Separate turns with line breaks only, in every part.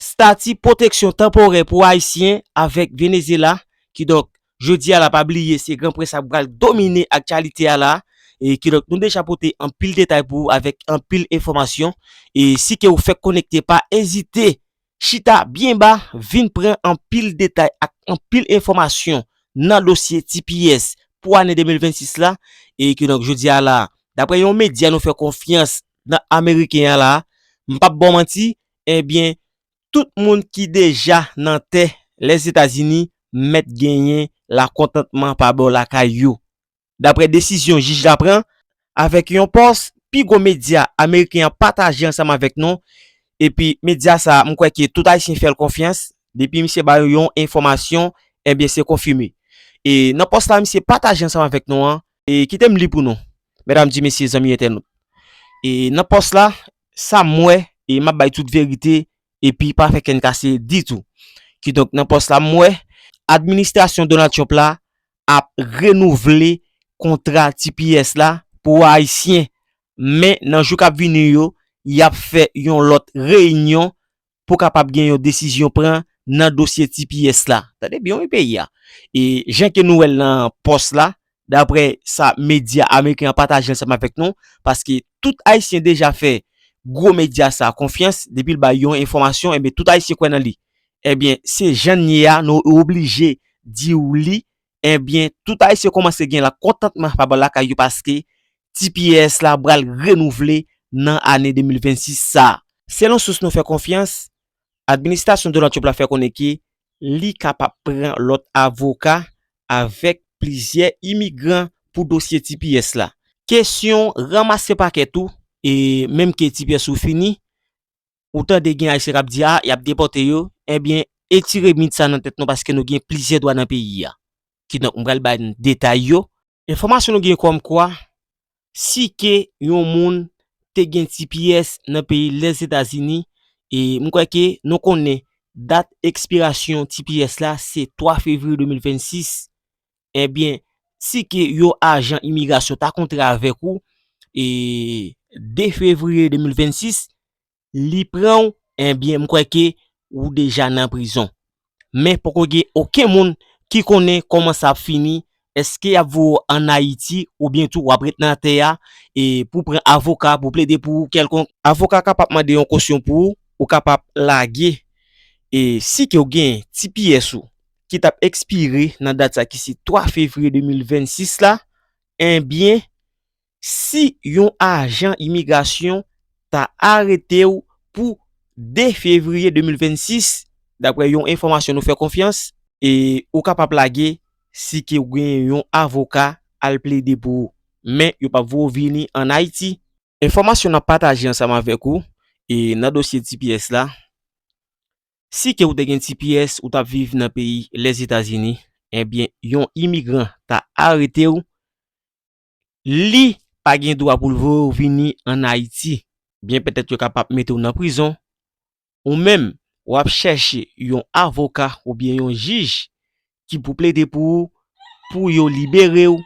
Stati pwoteksyon tanporè pou Ayisyen avèk Venezyela, kidonk jodi a la pa bliye se gran près la k pral domine aktyalite a la, e kidonk nou deja pote anpil detay pou ou avèk anpil enfòmasyon, e si ke ou fèk konekte pa ezite chita byen ba vin pran anpil detay ak anpil enfòmasyon nan dosye tps pou ane 2026 la, e kidonk jodi a la daprè yon medya nou fè konfyans nan ameriken a la, m pap ba w manti ebyen tout moun ki deja nan tè Lèzetazini mèt genyen lakontantman pa bò lakay yo, dapre desizyon jij la pran, avèk yon pòs pi gwo medya ameriken an pataje ansanm avèk nou, epi medya sa a m kwè ke tout ayisyen fè l konfyans, depi misye ba yo yon enfòmasyon, ebyen se konfime. E nan pòs la misye pataje ansanm avèk nou an, e kite m li pou nou, mèdam, di mesye, zanmi entènot, e nan pòs la, sa m wè e m ap bay tout verite epi pa fè kenn kase ditou. Kidonk nan pòs la m wè administrasyon Donald Trump la ap renouvle kontra tps la pou ayisyen men nan jou k ap vini yo y ap fè yon lòt reyinyon pou kapab gen yon desizyon pran nan dosye tps la. Tande byen wi peyi a. E jan ke nou wè l nan pòs la, daprè sa medya ameriken an pataje ansanm avèk nou, paske tout Ayisyen deja fè gwo medya sa konfyans, depi l bay yon enfòmasyon, enben tout Ayisyen kwè nan li. Enben, se jan n ye a, nou oblije di ou li, Ebyen tout ayisyen komanse gen la kontantman pa bò lakay yo paske tps la bral renouvle nan ane 2026 sa. Selon sous nou fè konfyans, administasyon Donald Trump la fè konnen ke li kapab pran lòt avoka avèk plizyè imigran pou dosye tps la. Kesyon ranmase pakè tou, e menm ke tps ou fini, Ou tande gen ayisyen kap di a yap depòte yo ebyen etire mit sa nan tèt nou paske nou gen plizyè dwa nan peyi a kidonk m pral ban detay yo. Enfòmasyon nou gen kòm kwa si ke yon moun te gen tps nan peyi Lèzetazini e m kwè ke nou konnen dat ekspirasyon tps la se 3 fevriye 2026 Ebyen, si ke yon ajan imigrasyon ta kontre avèk ou, e 2 fevriye 2026, li pran ou, ebyen m kwè ke ou deja nan prizon. Men poko gen oken moun ki konnen kòman sa ap fini, eske y ap voye ou an Ayiti oubyen tou w ap ret nan atè a, e pou w pran avoka pou plede pou ou kèlkonk. Avoka a kapab mande yon kosyon pou ou, ou kapab lage, e si ke ou gen tps ou, ki tap ekspire nan dat sa ki se 3 fevriye 2026 la, enbyen si yon ajan imigrasyon ta arete w pou 2 fevriye 2026, daprè yon enfòmasyon nou fè konfyans, e ou kapab lage si ke ou gen yon avoka al plede pou ou. Men yo pap voye w vini an Ayiti. Enfòmasyon nap pataje ansanm avèk ou e nan dosye tps la, Si ke ou te gen tps ou tap viv nan peyi Lèzetazini, ebyen yon imigran ta arete ou, li pa gen dwa pou l voye ou vini an Ayiti. Byen petèt yo kapab mete ou nan prizon, ou menm wap chèche yon avoka oubyen yon jij ki pou plede pou ou pou yo liberew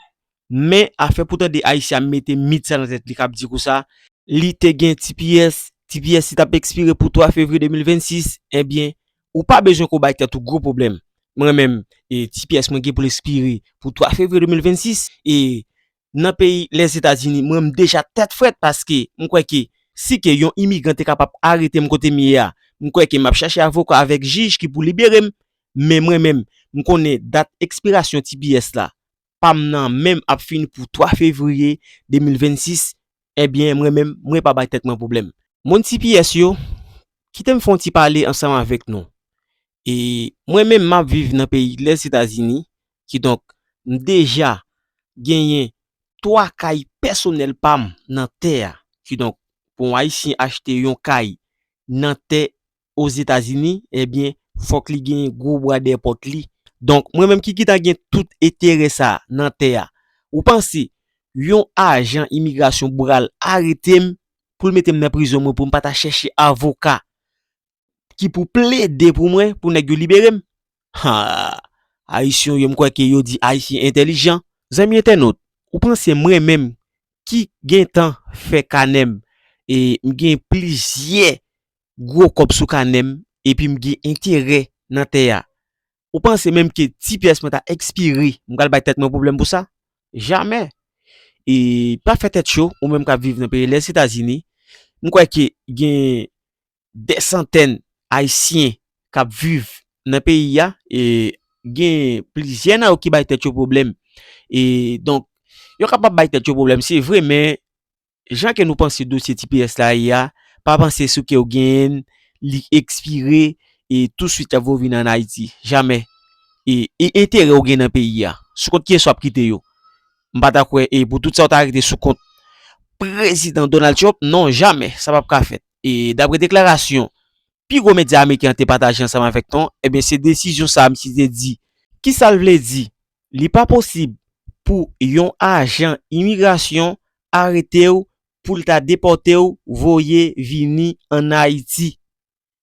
men afè pou tande ayisyen ap mete mit sa nan tèt li kap di kousa li te gen tps tps li tap ekspire pou 3 fevriye 2026 ebyen ou pa bezwen ke w bay tèt ou gwo pwoblèm mwen menm tps mwen gen pou l ekspire pou 3 fevriye 2026 e nan peyi Lèzetazini mwen m deja tèt frèt paske m kwè ke si ke yon imigran te kapab arete m kote m ye a m kwè ke m ap chache avoka avèk jij ki pou libere m men mwen menm m konnen dat ekspirasyon tps la pa m nan menm ap fini pou 3 fevriye 2026 ebyen mwen menm mwen pa bay tèt mwen pwoblèm. Moun tps yo, kite m fè yon ti pale ansanm avèk nou e mwen menm m ap viv nan peyi Lèzetazini Kidonk, m deja genyen 3 kay pèsonèl pa m nan tè a. Kidonk, pou yon Ayisyen achte yon kay nan tè Ozetazini, ebyen, fòk li genyen gwo bwa dèyè pòt li. Donk, mwen menm ki ki ta gen tout eterè sa a nan tè a, ou panse yon ajan imigrasyon pral arete m pou l mete m nan prizon mwen pou m pa ta chèche avoka ki pou plede pou mwen pou nèg yo libere m. Haa! Ayisyon yo m kwè ke yo di Ayisyen entèlijan. Zanmi entènot, ou panse mwen menm ki gentan fè kanè m e m gen plizyè gwo kòb sou kanè m epi m gen enterè nan tè a, ou panse menm ke ti pyès mwen ta ekspire m pral bay tèt mwen pwoblèm pou sa? Jamè! E pa fè tèt cho, ou menm k ap viv nan peyi Lèzetazini, m kwè ke gen Dè santèn Ayisyen k ap viv nan peyi a, e gen plizyè nan yo ki bay tèt yo pwoblèm. E donk, yo kapab bay tèt yo pwoblèm se vre, men jan ke nou panse dosye tps la ye a, pa panse sou ke ou genyen l, li ekspire, e tousuit y ap voye vin ann Ayiti. Jamè! E enterè ou gen nan peyi a, sou kont kiyès w ap kite yo? M pa ta kwè e pou tout sa ou ta rete sou kont Prezidan Donald Trump, non, jamè! Sa p ap ka fèt. E dapre deklarasyon pi gwo medya ameriken an te pataje ansanm avèk ton, ebyen se desizyon sa a misye te di. Ki sa l vle di? Li pa posib pou yon ajan imigrasyon arete w pou l ta depòte w voye vini ann Ayiti.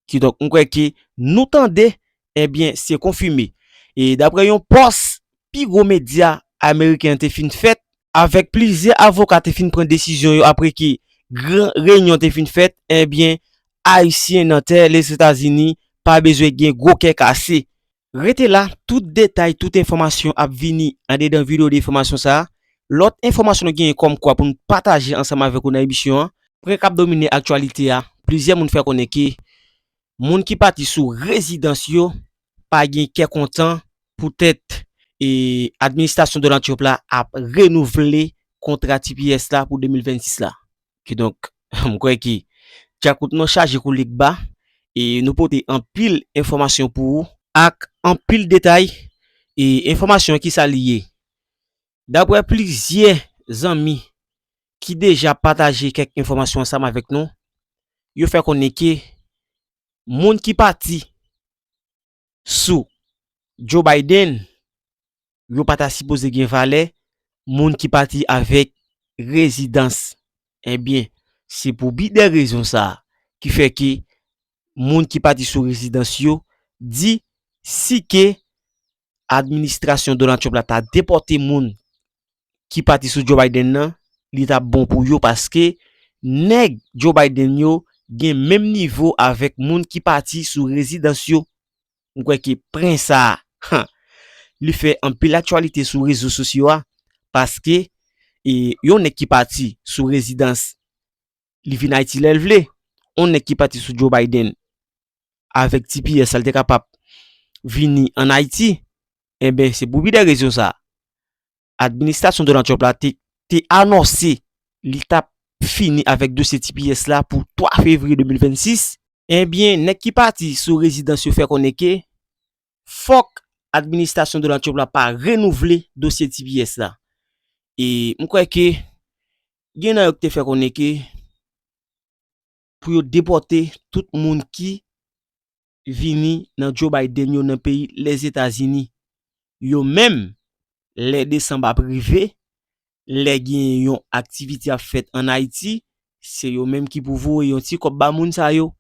Kidonk m kwè ke nou tande ebyen se konfime. E dapre yon pòs pi gwo medya ameriken an te fin fèt Avèk plizyè avoka te fin pran desizyon yo apre ke gran reyinyon te fin fèt, ebyen Ayisyen nan tè Lezetazini pa bezwen gen gwo kè kase. Rete la, tout detay, tout enfòmasyon ap vini andedan video de enfòmasyon sa. Lòt enfòmasyon nou genyen kòm kwa pou nou pataje ansanm avèk ou nan emisyon an. Pwen kap domine aktyalite a, plizyè moun fè konnen ke moun ki pati sou rezidans yo pa gen kè kontan poutèt administrasyon Donald Trump la ap renouvle kontra tps la pou 2026 la. Kidonk, m kwè ke dyakout nou chaje kou Legba e nou pote anpil enfòmasyon pou ou. Ak anpil detay e enfòmasyon ki sa li ye. Dapre plizyè zanmi ki deja pataje kèk enfòmasyon ansanm avèk nou, yo fè konnen ke moun ki pati sou Joe Biden yo pa ta sipoze gen valè moun ki pati avèk rezidans. Ebyen, se pou bi de rezon sa a ki fè ke moun ki pati sou rezidans yo di si ke administrasyon Donald Trump la ta depòte moun ki pati sou Joe Biden nan, li t ap bon pou yo paske nèg Joe Biden yo gen menm nivo avèk moun ki pati sou rezidans yo. M kwè ke pren sa a, li fè anpil aktyalite sou rezo sosyo a paske yon nèg ki pati sou rezidans Li vin Ayiti lè l vle. On nèg ki pati sou Joe Biden avèk ti piyè sa l te kapab vini an Ayiti. Enben, se pou pi de rezon sa. Administrasyon Donald Trump la te te anonse li t ap fini avèk dosye ti piyè sa la pou 3 fevriye 2026. Enben, nèg ki pati sou rezidans yo fè konnen ke fòk administrasyon Donald Trump la pa renouvle dosye ti piyè sa. E m kwè ke Gen nan yo ki te fè konnen ke pou yo depòte tout moun ki vini nan Joe Biden yo nan peyi Lèzetazini yo menm lè desanm ap rive, lè gen yon aktivite ap fèt an Ayiti, se yo menm ki pou voye yon ti kòb ba moun sa yo.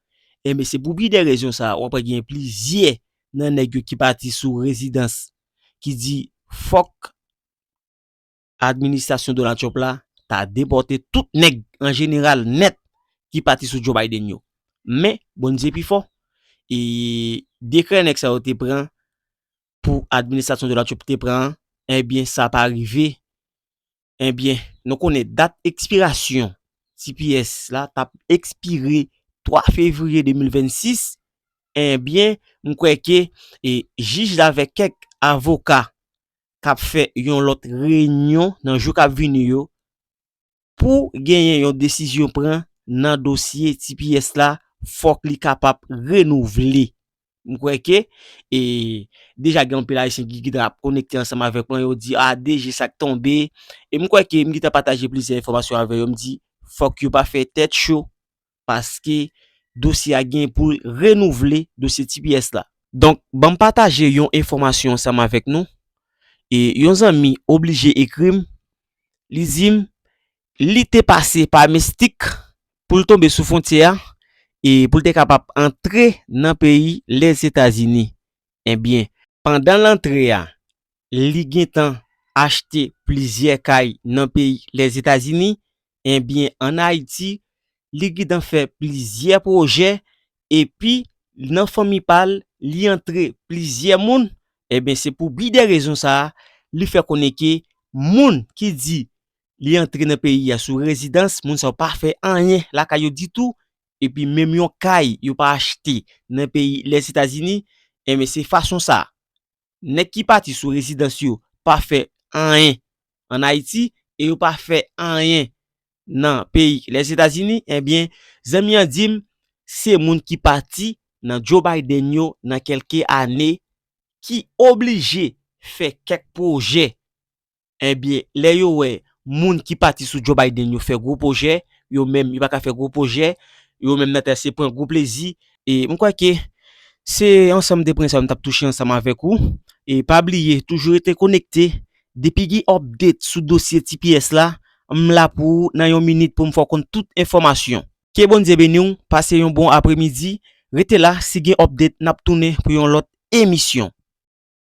Enben se pou pi de rezon sa wap wè gen plizyè nan nèg yo ki pati sou rezidans ki di fòk administrasyon Donald Trump la ta depòte tout nèg an jeneral nèt ki pati sou Joe Biden yo. Men, Bondye pi fò, e dekrè nèg sa yo te pran pou administrasyon Donald Trump te pran an, enbyen sa pa rive, enbyen nou konnen dat ekspirasyon tps la t ap ekspire 3 fevriye 2026, enbyen m kwè ke jij la avèk kèk avoka k ap fè yon lòt reyinyon nan jou k ap vini yo pou genyen yon desizyon pran nan dosye tps la fòk li kapab renouvle. M kwè ke e deja gen anpil ayisyen ki gentan ap konekte ansanm avèk mwen yo di ah DG sa k tonbe e m kwè ke m gentan pataje plizyè enfòmasyon avè yo m di fòk yo pa fè tèt cho paske dosye a gen pou l renouvle dosye tps la. Donk, ban m pataje yon enfòmasyon ansanm avèk nou. E yon zanmi oblije ekri m, li di m li te pase pa Mystic pou l tonbe sou fwontyè a e pou l te kapab antre nan peyi Lèzetazini. Ebyen, pandan l antre a, li gentan achte plizyè kay nan peyi Lèzetazini Enbyen an Ayiti li gntan fè plizyè pwojè epi nan fanmi pa l li antre plizyè moun enbyen se pou bi de rezon sa li fè konnen ke moun ki di li antre nan peyi a sou rezidans moun sa yo pa fè anyen lakay yo ditou epi menm yon kay yo pa achte nan peyi Lèzetazini enbyen se fason sa nèg ki pati sou rezidans yo pa fè anyen an Ayiti e yo pa fè anyen nan peyi Lèzetazini ebyen zanmi an di m se moun ki pati nan Joe Biden yo nan kèlke ane ki oblije fè kèk pwojè Ebyen lè yo wè moun ki pati sou Joe Biden yo fè gwo pwojè, yo menm yo pa ka fè gwo pwojè, yo menm nan ta se pran gwo plezi. E m kwè ke se ansanm de pwen sa yo m t ap touche ansanm avèk ou. E pa bliye toujou rete konekte, depi gen update sou dosye tps la, m la pou ou nan yon minit pou m fè w konn tout enfòmasyon. Ke Bondye beni w, pase yon bon apremidi, rete la si gen update n ap tounen pou yon lòt emisyon.